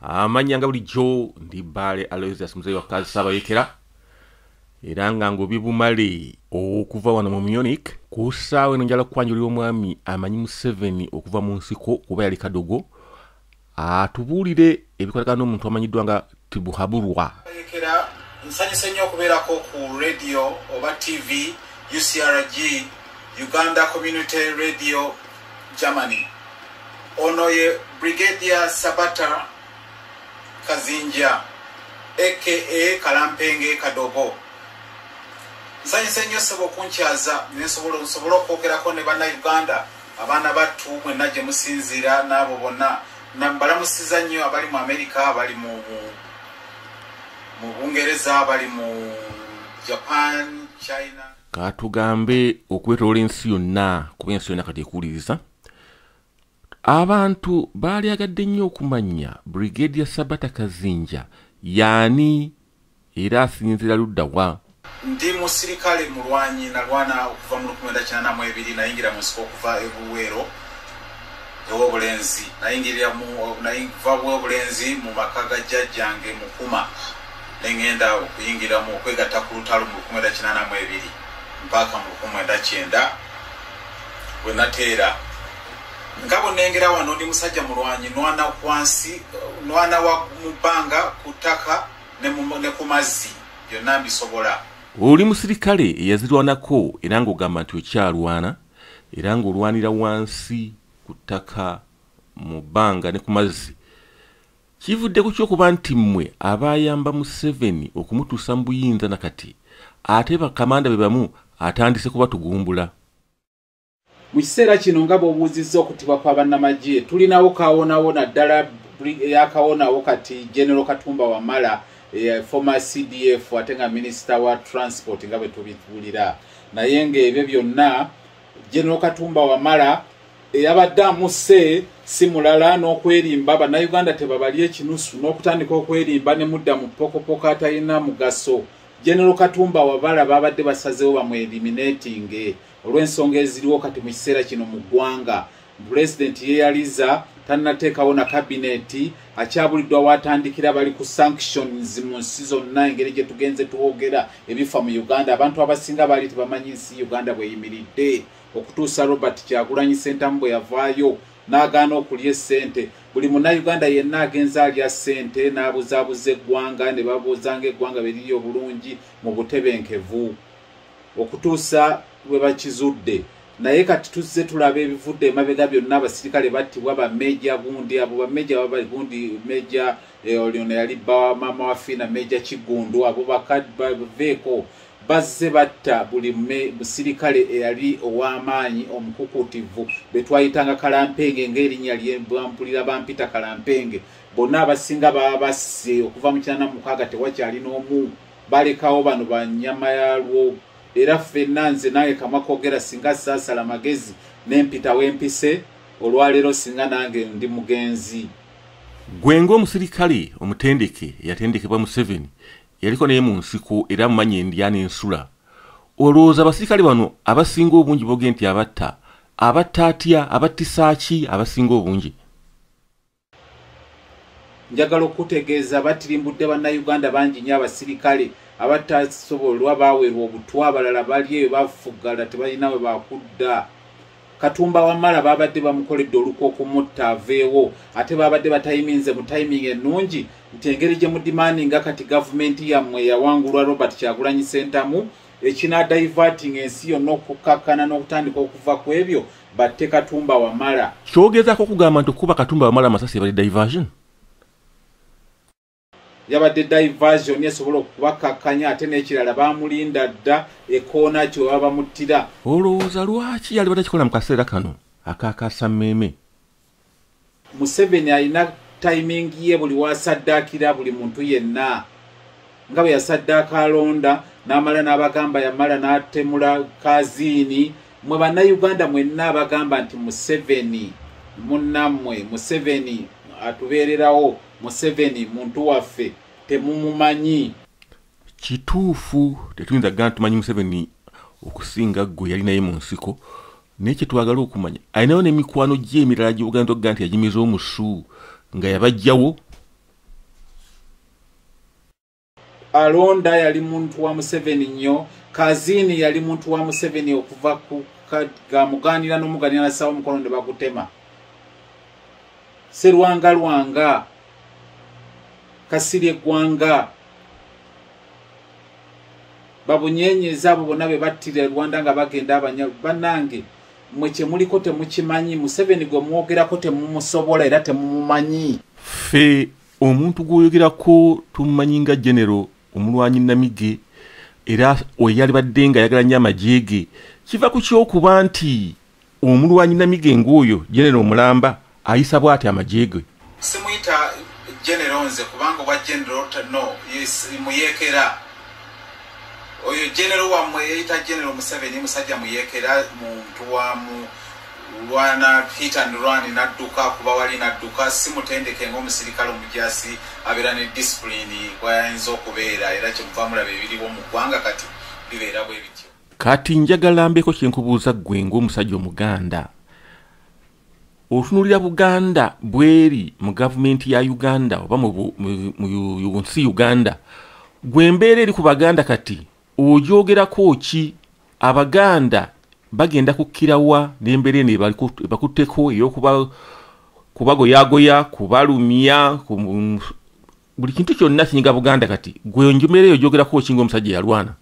amanya nga bulijjo ndi baale aloysias muzeeyi wakazi saabayekera era nga ngobi bumale okuva wano mu munich ku ssaawa eno njala kukwanjulira omwami amanyi museveni okuva mu nsiko kuba yali kadogo atubuulire ebikolekana n'omuntu amanyiddwa nga tibuhaburwa ekera nsanyuse nnyo okubeerako ku radio oba tv ucrg uganda community radio germany ono ye brigadia sabata kazinja aka kalampenge kadogo nsanyuse nnyo sebo okunkyaza nensobola nsobole okwogerako ne banauganda abaana battu mwenna gye musinziira n'abo bonna nambalamusiza nnyo abali mu amerika abali mu bungereza abali mu japan china katugambe okwetoola ensi yonna kuba ensi yonna kati ekuwuliriza abantu baalyagadde nnyo okumanya brigade ya sabata kazinja yaani era asinzira ludda wa? Ndi musirikale mulwanyi nalwana okuva mu lukumenda kinana mu ebiri nayingira mu nsiko okuva e Buweero ew'obulenzi nayingirira mu nayiva bw'obulenzi mu maka ga jjajjange Mukuma ne ŋŋenda okuyingira mu okwegatta ku lutalo mu lukumenda kinana mu ebiri mpaaka mu lukumenda kyenda bwe nateera nga bwenengera wano ndi musajja mulwanyi nwana kwansi nwana wa mu bbanga ku ttaka ne ku mazzi byonna mbisobola oli musirikale eyazirwanako era ng'ogamba nti okyalwana era ng'olwanira wansi ku ttaka mu bbanga ne ku mazzi kivudde ku kyokuba nti mmwe abayamba museveni okumutuusa mu buyinza na kati ate bakamanda be bamu atandise kubatugumbula mu kiseera kino nga bwobuuzizza okutibwa kwa bannamagye tulinawo kawonawo naddala yakawonawo kati general katumba wamala eh, former cdf ate nga minisita wa transport nga bwe tubitubulira naye ngaebyo byonna general katumba wamala eyabadde amuse si mulala n'okwerimba bannayuganda tebabali ekinusu n'okutandika okwerimba ne mudda mu pokopoko atalina mugaso general katumba wabala babadde basazewo bamweriminatinge olw'ensonga eziriwo kati mu kiseera kino mu ggwanga pulezidenti yeyaliza tannateekawo na kabineeti akyabuliddwa waatandikira bali ku sanctions mu nsi zonna engeri gye tugenze twogera ebifa mu uganda abantu abasinga baali tebamanyi nsi uganda bweyimiridde okutuusa robert kyagulanyi sentamu bwe yavaayo n'agaana okulya essente buli munauganda yenna agenza alya ssente n'abuzaabuza eggwanga ne babuuzanga eggwanga beriri obulungi mu butebenkevu okutuusa lwe bakizudde naye kati tuzze tulaba ebivudde emabega byonna abasirikale battibwa bameja gundi abo bameja babali gundi meja eh, olyona yali bawamaama wafiina meja kiggundu abo bakaveeko bazze batta buli musirikale eyali ow'amaanyi omukukutivu be twayitanga kalampenge ng'erinnya lyebampulira bampita kalampenge bonna abasinga baba basse okuva mu kinana mukaaga tewakyali n'omu balekawo bano banyama yalwo era ffenna nze nange kamwa kogera singa saasala magezi nempita wempise olwaleero singa nange ndi mugenzi gwe ngaomusirikale omutendeke eyatendekebwa museveni yaliko naye mu nsiko era amumanyi endya n'ensula olowooza abasirikale bano abasinga obungi boge nti abatta abatta atya abattisaaki abasinga obungi njagala okukutegeeza batirimbudde bannayuganda bangi nyo abasirikale abatasobolwa baweerwa obutwa abalala bali eyo bafuggala tebalina we bakudda katumba wamala babadde bamukoledde olukwa okumutta aveewo ate babadde batayiminze mu tayimingi ennungi nti engeri gye mudimani nga kati gavumenti yammwe yawangulwa robert kyagulanyi sentamu ekinadayivatinga ensi yonna okukakkana n'okutandika okuva ku ebyo batte katumba wamala kyogezako kugamba nti okukuba katumba wamala amasasi yabadde diversion yabadde diversion esobola okubakakkanya ate n'ekirala bamulinda dda ekoona kyo baba bamuttira olowooza lwaki yali bada kikola mu kaseera kano akakasammeeme museveni alina timing ye buli wasaddaakira buli muntu yenna nga bwe yasaddaaka alonda n'amala n'abagamba yamala n'atemula kaziini mwe bannayuganda mwenna abagamba nti museveni munnammwe museveni atubeererawo museveni muntu waffe temumumanyi kituufu tetuyinza kugamba tumanyi museveni okusinga gwe yali naye mu nsiko naye kyetwagala okumanya alinayo nemikwano gyemirala gyobuganda tokuga nti yagimiza omusu nga yabajjawo alonda yali muntu wa museveni nnyo kazini yali muntu wa museveni okuva ku gamuganira nomuganira nasawo omukono ne bagutema serwanga lwanga kasirye eggwanga babunyenyeza abo bonna be battira e rwanda nga bagenda abanya banange mwe kyemuliko temukimanyi museveni gwe mwogerako temumusobola era temumumanyi ffe omuntu gwoyogerako tumumanyi nga genero omulwanyi namige era oyalibadde nga ayagala nyo amagye ge kiva ku kyokuba nti omulwanyi namige ng'oyo genero omulamba ayisa bwati amagye ge simuyita genero nze kubanga obwa genero no muyekera oyo genero wammwe yeyita genero museveni musajja muyekera muntu wa mu lwana hit and run nadduka kuba wali nadduka simutendeke ngaomusirikale omujasi abeera ne disipulini bwayinza okubeera era kyemuvamulaba ebiriwo mu ggwanga kati bibeera bwe bityo kati njagala mbeeko kyenkubuuza ggwe ng'omusajja omuganda otunulira buganda bweri mu gavumenti ya uganda oba munsi uganda gwe mbeera eri ku baganda kati ogyogerako ki abaganda bagenda kukkirawa nembeera eno ebakutteko eyokubagoyagoya kubalumya buli kintu kyonna kinyiga buganda kati gwe njumera eyo gyogerako okinga omusajja yalwana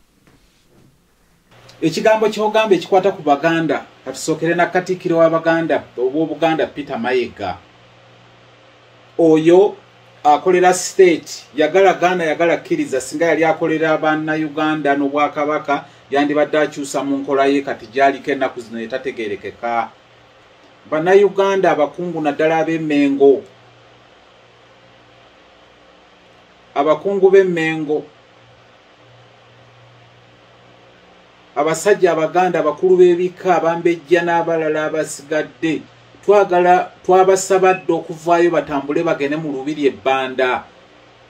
ekigambo kyogamba ekikwata ku baganda katusookere na katikiro wa baganda obwobuganda peter mayega oyo akolera state yagala gaana yagala kkiriza singa yali akolera banna uganda n'obwakabaka yandibadde akyusa mu nkola ye kati gyaliko ennaku zino yetategerekeka bannayuganda abakungu naddala ab'emengo abakungu b'emmengo abasajja abaganda abakulu b'ebika abambejja n'abalala abasigadde twagala twabasaba dda okuvaayo batambule bagende mu lubiri ebbanda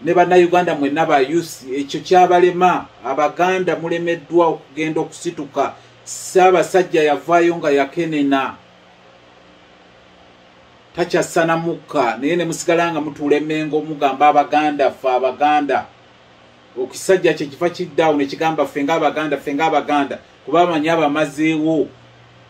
ne bannayuganda mwenna ba usi ekyo kyabalema abaganda mulemeddwa okugenda okusituka saabasajja yavaayo nga yakenena takyasana mukka naye ne musigala nga mutuula emengo mugamba abaganda ffe abaganda okisajja kye kifa kiddawo ne kigamba ffe nga abaganda ffe nga abaganda kuba amanyi abamazeewo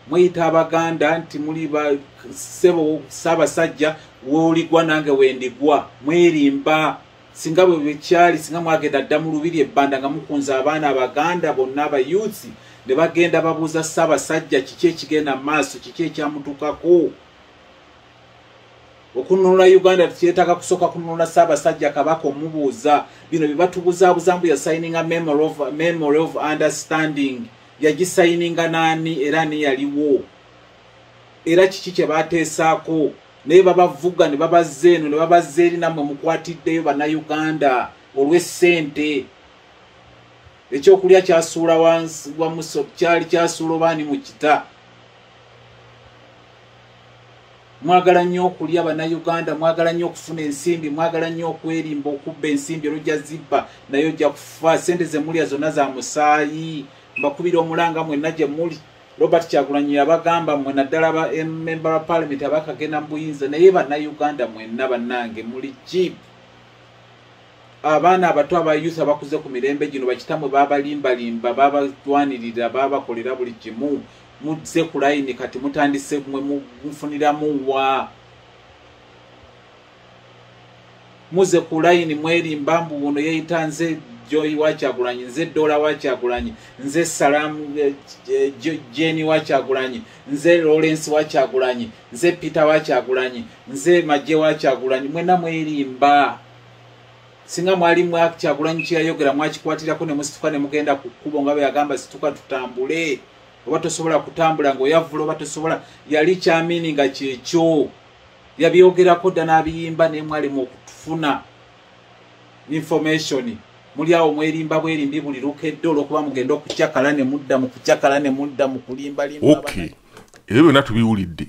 mweyita abaganda nti muli basebo ssaabasajja woligwa nange wendigwa mwerimba singa bwe bwekyali singa mwagenda dda mu lubiri ebbanda nga mukunza abaana abaganda bonna abayuuthi ne bagenda babuuza ssaabasajja kiki ekigenda mu maaso kiki ekyamutukako okununula uganda tukyetaaga kusooka kununula ssaabasajja kabaka omubuuza bino bye batubuzaabuza mbu yasayininga memory of understanding yagisayininga naani era ani yaliwo era kiki kye baateesaako naye babavuga ne babazza eno ne babazza eri nammwe mukwatiddeyo bannayuganda olw'essente ekyokulya kyasuula wansi wa muso kyali kyasuula obaani mu kita mwagala nnyo okulya bannayuganda mwagala nnyo okufuna ensimbi mwagala nnyo okwerimba okubba ensimbi olujja zibba naye ojja kufa sente zemulya zonna za musaayi mbakubira omulanga mwenna gye muli robert kyagulanyi yabagamba mwe naddala ba member wa parliament abakagenda mu buyinza naye bannayuganda mwenna bannange muli jib abaana abato abayusa abakuze ku mirembe gino bakitamwe babalimbalimba babalwanirira babakolera buli kimu muzze ku layini kati mutandise mwe mufuniramu wa muze ku layini mwerimba mbu wuno yeyita nze joyi wakyagulanyi nze dola wakyagulanyi nze salamu eh, eh, jeni wakyagulanyi nze lawrence wakyagulanyi nze peter wakyagulanyi nze maje wakyagulanyi mwena mwerimba singa mwali mwakyagulanyi kyeyayogera mwakikwatirako nemusituka nemugenda ku kkubo nga beyagamba situka tutambule oba tosobola kutambula ngaoyavula oba tosobola yali kyamini nga kyekyo yabyogerako dda n'abiyimba naye mwalimu okufuna information muli awo mwerimba bwerimbi buli lukedde olwokuba mugenda okucakala ne mudda mu kucakala ne mudda mu kulimbalimba okay ebyo byonna tubiwulidde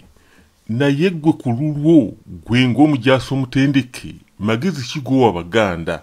naye gwe ku lulwo gwe ng'omujaasi omutendeke magezi kigowa baganda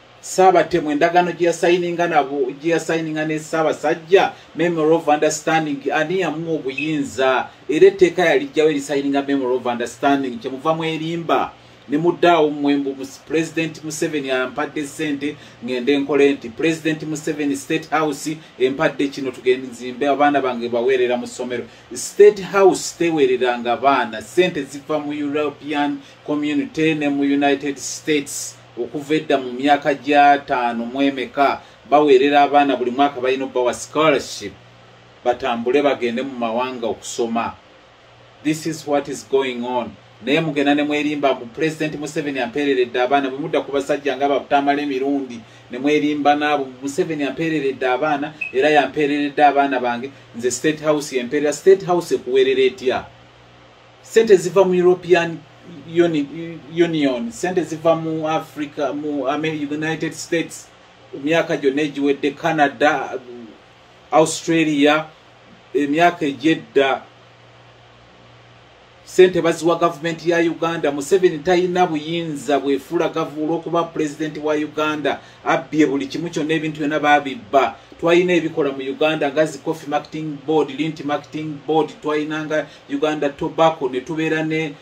Saabatemu endagaano gye yasayininga nabo gye yasayininga ne Ssaabasajja Memory of Understanding ani yamuwa obuyinza era etteeka yalijjawo erisayininga Memory of Understanding kye muva mu erimba ne muddaawo mwembu Pulezidenti Museveni ampadde ssente ng'ende nkole nti Pulezidenti Museveni State House empadde kino tugende nzimbe abaana bange baweerera mu ssomero State House teweereranga baana ssente ziva mu European Community ne mu United States okuva edda mu myaka gyataano mu emeka baweerera abaana buli mwaka balina okubawa scholarship batambule bagende mu mawanga okusoma this is what is going on naye mugenda ne mwerimba mbu pulezidenti museveni ampeereredde abaana bwe mudda ku basajja nga batamala emirundi ne mwerimba naabo museveni ampeereredde abaana era yampeereredde abaana bange nze state house yempeerera state house ekuweerera etya sente ziva mu european union sente ziva mu africa mu united states emyaka gyonna egiwedde canada australia emyaka egyedda sente baziwa gavumenti ya uganda museveni talina buyinza bwefula gavu olwokuba pulezidenti wa uganda abbye buli kimu kyonna ebintu byonna babibba twalina ebikola mu uganda nga zi coffee marketing board linti marketing board twalinanga uganda tobacco netubeera ne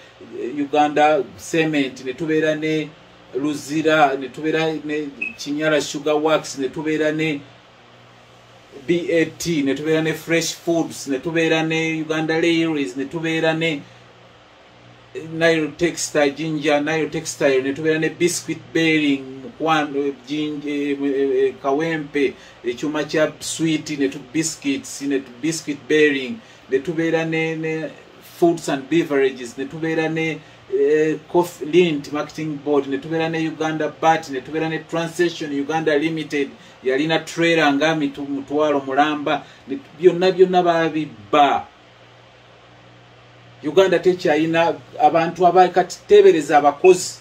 eh, uganda cement netubeera ne luzira netubeera ne kinyala sugar works netubeera ne bat netubeera ne fresh foods netubeera ne uganda lairies netubeera ne eh, nile textile jinja nile textile netubeera ne biscuit bearing mukwano eh, kawempe ekyuma kya swit netu biscuits netu biscuit bearing ne tubeera ne ne foods and beverages ne tubeera ne eh, coffee lint marketing board ne tubeera ne uganda bat ne tubeera ne transaction uganda limited yalina trailer nga mitu- mutwalo mulamba ne tu- byonna byonna babibba uganda tekyayina abantu aba kati tebereza abakozi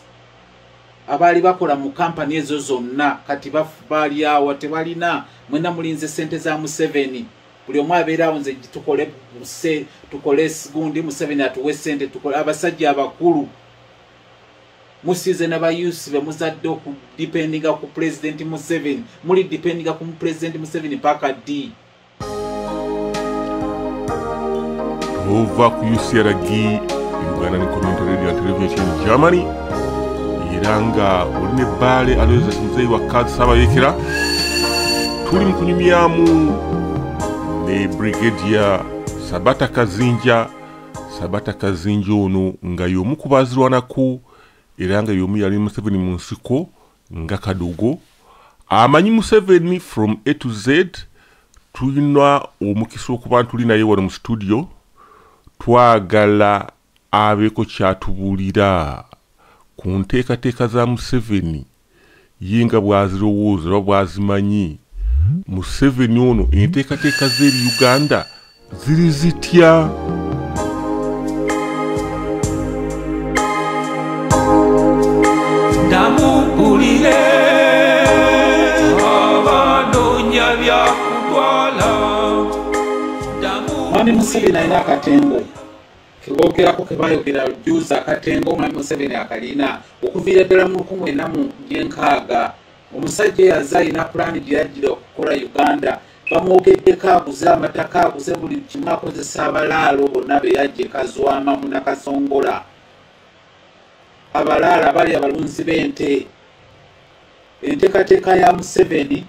abaali bakola mu kampani ezo zonna kati baf- balyawa tebalina mwena mulinze sente za museveni buli omu abeerawo nze tukole muse tukole gundi museveni atuwe sente tukole abasajja abakulu musize nabayusi bemuzadde okudipendinga ku pulezidenti museveni muli dipendinga ku pulezidenti museveni paka d ova ku ucrg uganda ni community radio and television germany era nga oli ne bbaale alozes muzeeyi wa kaadi saabayekera tuli mu kunyumyamu ne brigadia sabata kazinja sabata kazinja ono nga y'omu ku baazirwanako era nga y'omu yali museveni mu nsiko nga kadogo amanyi museveni from a to z tulina omukisa okuba ntuli naye wano mu situdio twagala Abeeko ky'atubuulira ku nteekateeka za Museveni ye nga bw'azirowooza oba bw'azimanyi. Museveni ono enteekateeka ze eri Uganda ziri zitya? Museveni alina akatendwe kebogerako kebayogera juzi akatenga omwami museveni akalina okuviira ddala mu lukumu ena mu gyenkaaga omusajja eyaza alina pulaani gyeyajjira okukola uganda bamwogeddeko aguze amataka aguze buli kimu akozesa abalaalo bonna beyajje kazwama munakasongola abalaalo abali abalunzi b'ente enteekateeka ya museveni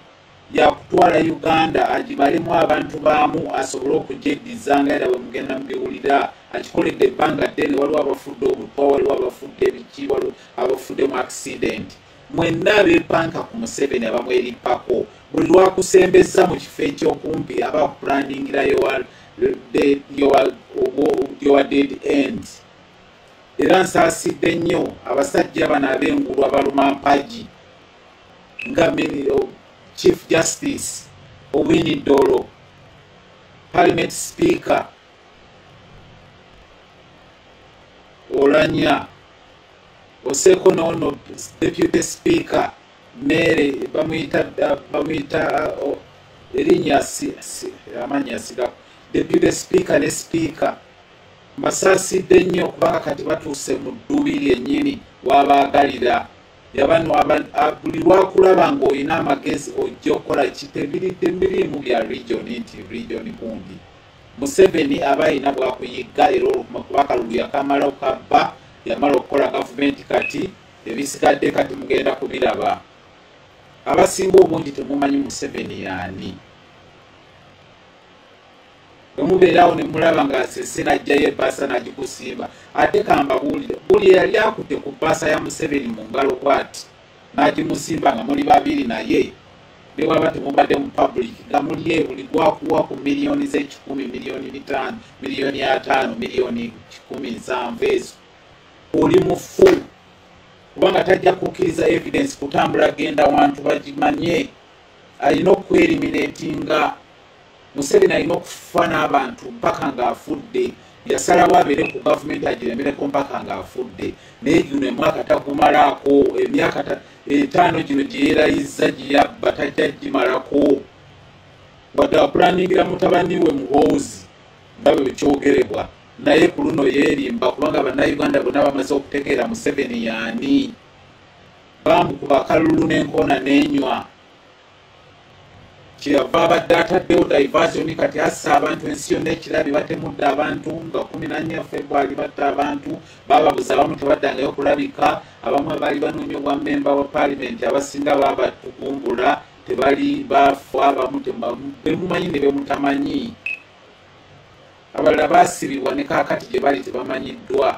yakutwala uganda agibalemu abantu baamu asobole okugyeddiza nga era bwemugenda mubiwulira akikoledde ebbanga ddene waliwo abafudde obutwa waliwo abafudde ebiki waliwo abafudde mu accident mwenna abepanka ku museveni abamweripako buli lwakusembeza mu kifo ekyokumpi aba kupulaningira yowa dead end era nsaasidde nnyo abasajja bano ab'engulu abaluma mpagi nga oh, chief justice owini dolo parliament speaker olanya oseko nono deputy speaker mere bamuyita bamuyita oh, erinya amanya siga deputy speaker ne speaker mbasaasidde nnyo kubanga kati batuuse mu ddubi lyennyini wabaagalira yabano buli lwakulaba ngaolina amagezi ojja okukola kitebirite mirimu bya region nti region gundi museveni aba alina bwakuyigga era olukuma kuba kalulu yakamala okabba yamala okukola gavumenti kati ebisigadde kati mugenda kubiraba abasinga obungi temumanyi museveni yaani wemubeerawo nemulaba nga sese najjayo ebaasa nagikusiiba ate kambabuulire buli eyali akute ku baasa ya museveni mu ngalo bwati nagimusimba nga muli babiri naye newaba temubadde mu public nga muli ebuli gwakuwa ku miliyoni zekikumi miliyoni bitaano miliyoni ataano miliyoni kikumi nsanvu ezo oli mufu kubanga tajja kukkiriza evidence kutambula genda wantu bagimanye alina okwerimina etinga museveni alina okufa n'abantu mpaka ng'afudde yasalawo abeere ku gavumenti agiremereko mpaka ng'afudde naye gino emwaka tagumalaako emyaka etaano gino gyeyerayizza gyeyabba tajja gimalako wadde apulaningira mutabani we muhoozi nga bwe kyogerebwa naye ku luno yeerimba kubanga bannayuganda bonna bamaze okutegeera museveni yaani bamukuba kalulu n'enkoona n'enywa kyeyava abadde ataddewo diversion kati assa abantu ensi yonna ekirabi batemudde abantu nga kumi nanya february batta abantu bababuza abamu tebaddangayo okulabika abamu abaali banoonya obwa memba wa paalimenti abasinga babatugumbula tebali bafa abamu bemumanyi ne bemutamanyi abalala basibibwa ne kakati gye bali tebamanyiddwa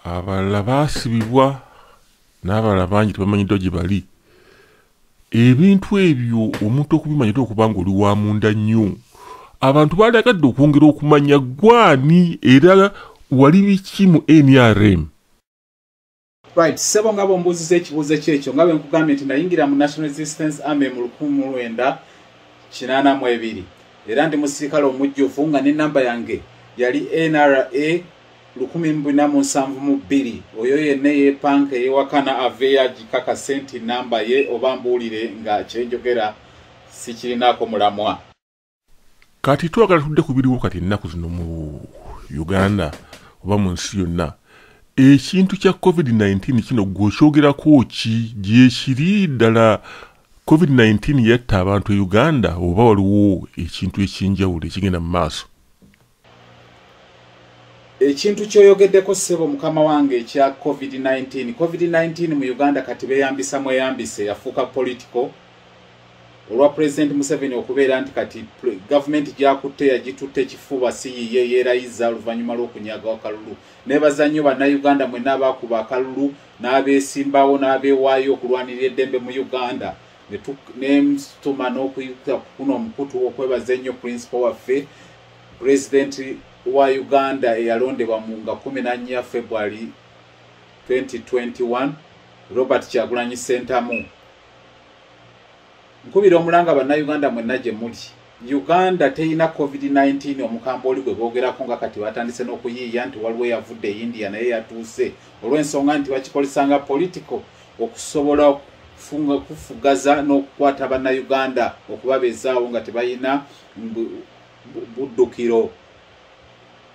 abalala baasibibwa n'abalala bangi tebamanyiddwa gye bali ebintu ebyo omuntu okubimanya te okuba nga oli wa munda nnyo abantu baalagadde okwongera okumanya gwani era wali biki mu nrm right sebo nga bombuuziza ekibuuzo kyekyo nga bwenkugambye nti nayingira mu national resistance army mu lukumu lwenda kinaana mu ebiri era ndi musirikale omujjuvu nga ne namba yange yali nra lukumi mu bina mu nsanvu mu bbiri oyo yenna eyeepanka eyewakana aveeyo agikakase nti nnamba ye oba mbuulire nga kyenjogera sikirinaako mulamwa kati twagala tudde ku biriwo kati ennaku zino mu uganda oba mu nsi yonna ekintu kya covid-19 kino gwe okyogerako ki gyekiri ddala covid-19 yatta abantu e uganda oba waliwo ekintu eky'enjawulo ekigenda mu maaso ekintu kyoyogeddeko ssebo mukama wange ekya covid-19 covid-19 mu uganda kati beyambisa mweyambise yafuuka politico olwa pulezidenti museveni okubeera nti kati gavumenti gyakutte yagitutte ekifuba siyiye yeerayiza oluvannyuma lw'okunyaga akalulu nebaza nnyo bannayuganda mwena abaakuba akalulu n'abeesimbawo n'abeewaayo okulwanirira eddembe mu uganda nemutuma n'okuyita kuno omukutu okwebaza ennyo purinsipo waffe pulezidenti wa uganda eyalondebwa mu nga 14 february 2021 robert kyagulanyi sentamu nkubira omulanga bannayuganda mwenna gye muli uganda terina covid-19 omukamba oli gwe boogerako nga kati batandise n'okuyiiya nti waliwo eyavudde e india naye yatuuse olw'ensonga nti bakikozesanga politico okusobola okufugaza n'okukwata bannayuganda okubabeezaawo nga tebalina buddukiro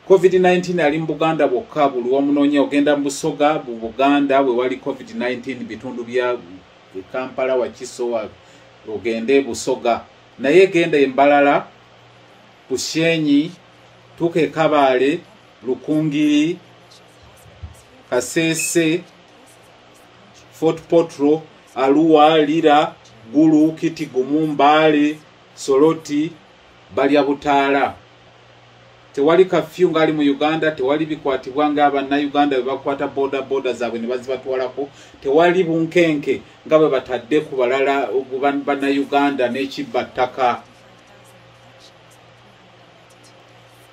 covid-19 ali mu buganda bwokka buli wamunoonya ogenda mu busoga bu buganda bwe wali covid-19 bitundu bya kampala wakisowa ogende busoga naye genda embalala bushenyi tuuka ekabaale lukungiri kasese fort potro aluwa lira gulu kitigumu mbaale soloti balya butaala tewali kafyu ngaali mu uganda tewali bikwatibwa nga bannayuganda bebakwata boda boda zaabwe ne bazibatwalako tewali bunkenke nga bwe batadde ku balala bannayuganda n'ekibba ttaka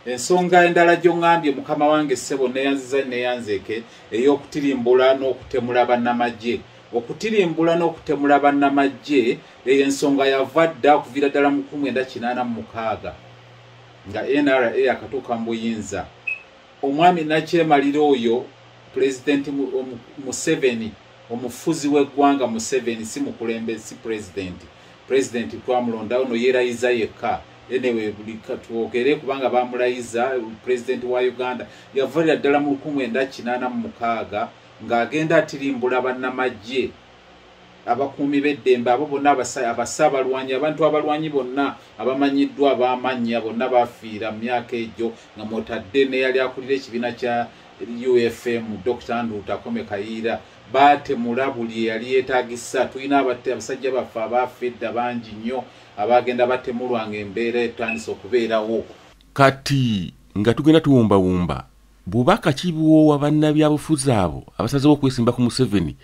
ensonga endala gyongambye mukama wange ssebo neyanziza neyanzeeke ey'okutirimbula n'okutemula bannamagye okutirimbula n'okutemula bannamaggye eyo ensonga yava dda okuviira ddala mu kumu enda kinaana mu mukaaga nga nra akatuuka mu buyinza omwami nakyemalira oyo pulezidenti museveni omufuzi w'eggwanga museveni si mukulembe si pulezidenti pulezidenti twamulondawo no yeerayiza yekka enewe buli katwogere kubanga bamulayiza pulezidenti wa uganda yavalira ddala mu lukumi enda kinaana mu mukaaga ng'agenda atirimbula bannamaggye abakuumi b'eddembe abo bonna abasa abalwanyi abantu abalwanyi bonna abamanyiddwa abaamannya bonna baafiira mu myaka egyo nga mwotadde neyali akulira ekibiina kya ufm dr nduuta kome kayiira baatemula buli eyali yeetagisa tulina abasajja baffe abaafa edda bangi nnyo abaagenda batemulwa nga embeera etandise okubeerawo kati nga tugenda tuwumbawumba bubaka ki bwowa bannabyabufuzi abo abasazewo okwesimba ku museveni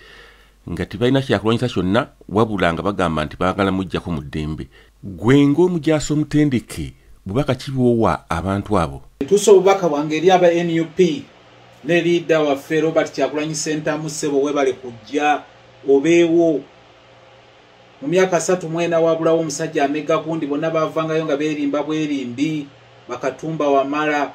nga tebalina kyakulwanyisa kyonna wabula nga bagamba nti baagala mujjako mu ddembe gwe ng'omujaasi omutendeke bubaka ki bwowa abantu abo etuusa obubaka bwange eri aba nup ne liida waffe robert kyakulanyi sentamu ssebo webale kujja obeewo mu myaka satu mwena wabulawo omusajja amega gundi bonna bavangayo nga beerimba bwerimbi bakatumba wamala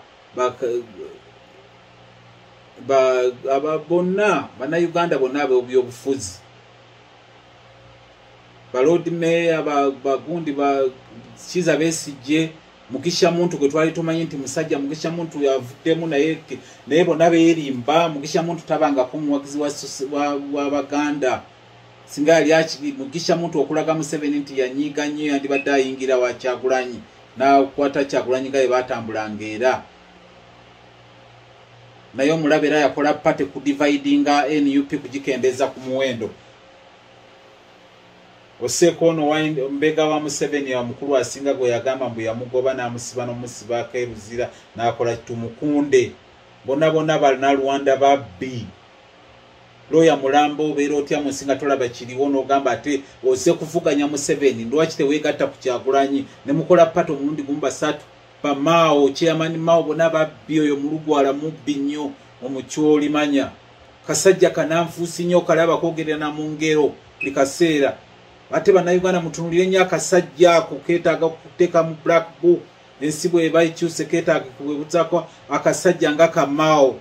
bonna bannayuganda bonna abebyobufuzi balodi meeya bagundi bakiza besijje mukisha muntu gwe twali tumanyi nti musajja mukisha muntu yavuddemu naye naye bonna beerimba mukisha muntu tabangako omuwagizi wa baganda wa, wa singa yali akiri mugisha muntu okulaga museveni nti yanyiiga nnyo yandibadde ayingira wa kyagulanyi nakwata kyagulanyi nga yebatambulanga era naye omulaba era yakola pate ku dividinga nup kugikendeza ku muwendo oseeko ono mbega wa museveni omukulu asinga gwe yagamba mbu yamugoba n'amusiba n'omusibaako eruzira n'akola tumukunde bona bona balina rwanda babbi looya mulamba obeera otya munsi nga tolaba kiriwo n'ogamba ate oze kuvuganya museveni lwaki teweegatta ku kyagulanyi ne mukola pata omulundi gumu basatu bamaawo kyeyamani maawo bona babbi oyo mulugwala mubbi nnyo omukyolimanya kasajja kananfuusi nnyo okalaba kwogerera na mu ngero buli kaseera ate bannayuganda mutunulire nnyo akasajja ako keetaaga okuteeka mu black book ensi bweba ekyuse keetaaga kuwebuzaako akasajja nga kamaawo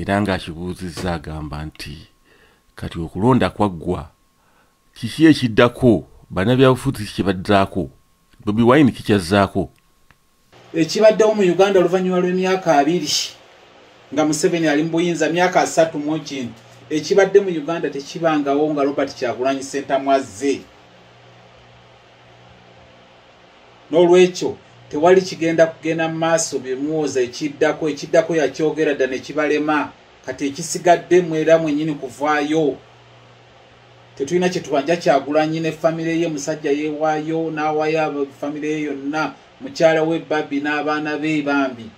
era ng'akibuuzizza agamba nti kati okulonda kwaggwa kiki ekiddako banabyabufuzi kye baddaako bobi wine kikyazzaako ekibaddewo mu uganda oluvannyuma lw'emyaka abiri nga museveni ali mu buyinza myaka asatu mu kintu ekibadde mu uganda tekibangawo nga robert kyagulanyi sentamwazze n'olwekyo tewali kigenda kugenda mu maaso bye muwooza ekiddako ekiddako yakyogera dda ne kibalema kati ekisigadde mwera mwenyini kuvaayo tetulina kyetubanja kyagulanyi ne famire ye musajja yewaayo n'awaayo famire ye yonna mukyala we babi n'abaana be bambi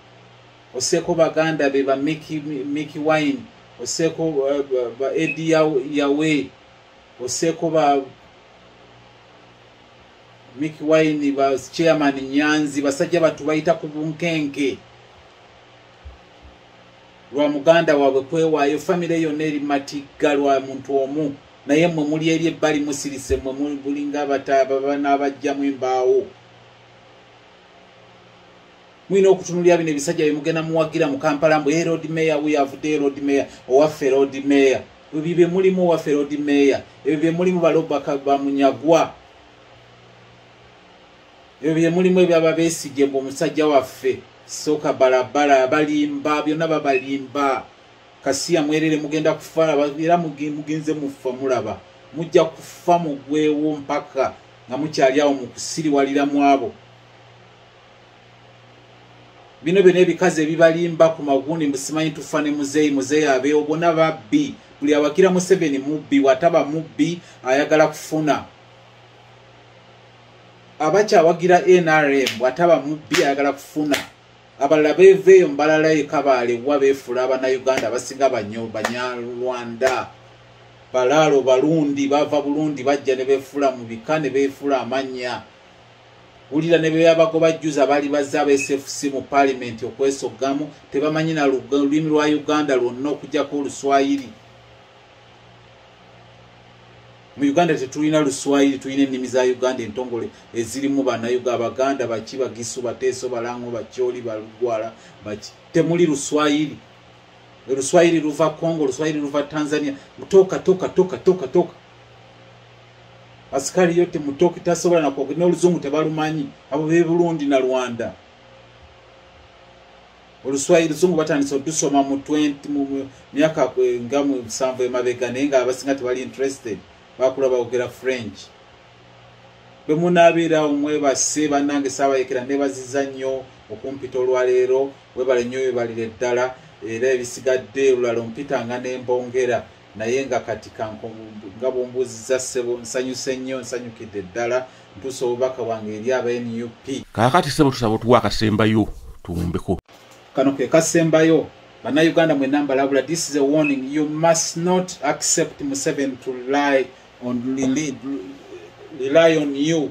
oseeko baganda be ba miki wine oseeko uh, ba edi yawe oseko ba miki wine ba chairman nyanzi basajja batu bayita ku bunkenke lwa muganda waabwe kwewaayo famire yonna eri matigga lwa muntu omu naye mwe muli eri ebbali musirise mwe mulinga abataababa n'abajjamu embaawo mulina okutunulira bino ebisajja byemugenda muwagira mu kampala mbu erod eh, mayor wuyo avudde erod eh, mayor owaffe erod eh, mayor ebyo byemulimu owaffe erod mayor ebyo byemulimu balobaka bamunyagwa ebyo byemulimu ebyaba besigye mbu omusajja waffe soka balabala balimba byonna babalimba kasiya mwerere mugenda kufa era mugenze mufa mulaba mujja kufa mugwewo mpaka nga mukyali awo mukusiriwalira mwabo bino byona ebikazi ebibalimba ku magundi musimanyi tufa ne muzeeyi muzeeyi abeewo bona babbi buli awagira museveni mubbi wataba mubbi ayagala kufuna abakyawagira nrm wataba mubbi ayagala kufuna abalala beveeyo mubalala ekabaale wa beefuula abanauganda abasinga banyo banyarwanda balaalo balundi bava bulundi bajja ne beefuula mu bika ne beefuula amannya wulira ne beyabagoba jjuza bali bazze aba sfc mu paalimenti okwesoggamu tebamanyi na lulimi lwa uganda lwonna okujjako oluswayiri mu uganda tetulina luswayiri tulina ennimi za uganda entongole ezirimu banayuga abaganda baki bagisu bateeso balango bakyoli balugwala baki temuli luswayiri oluswayiri luva congo oluswayiri luva tanzania toka toka toka toka toka asikali yote mutoki tasobola na kwogera n'oluzungu tebalumanyi abo be Burundi na Rwanda oluswayiri luzungu batandise otusoma mu 20 mu myaka nga mu nsanvu emabega naye nga abasinga tebali interested bakula baogera french bwe munaabeera omwebase bannange saabayekera nebaziza nnyo okumpita olwaleero webale nnyo webalire ddala era ebisigadde olulala ompitanga nembongera naye nga kati nga bwombuuziza ssebo nsanyuse nnyo nsanyukidde ddala ntuusa obubaka bwange eri aba nup kakati ssebo tusaba otuwa akasembayo tuwumbeko kano ke kasembayo bannayuganda mwena mbalabula this is a warning you must not accept museven to lie on, rely on you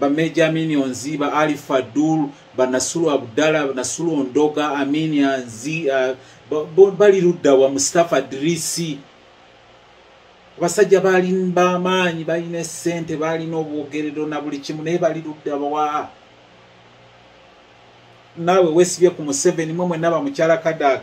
ba major minions ba ali fadul ba nasulu abdala nasulu ondoga aminia nzi uh, bali ludda wa mustafa drisi abasajja bali bamaanyi balina esente balina obwogerero na buli kimu naye bali ludda wa naawe wesibye ku museveni mwe mwenaba mukyala kadaga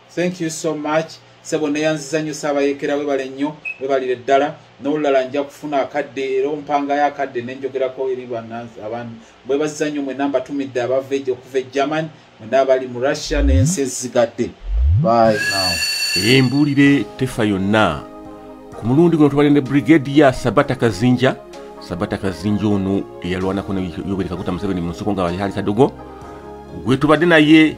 thank you so much sebo neyanziza nnyo saabayekera webale nnyo webalire ddala n'olulala nja kufuna akadde era ompangayo akadde nenjogerako eri abantu bwebaziza nnyo mwena mbatumidde abava ejo okuva e german mwena abali mu russia n'ensi ezigadde by now embuulire tefa yonna ku mulundi guno tubale ne brigade ya sabata kazinja sabata kazinja ono eyalwanako ne yoweri kaguta museveni mu nsiko nga bali hali kadogo gwetubadde naye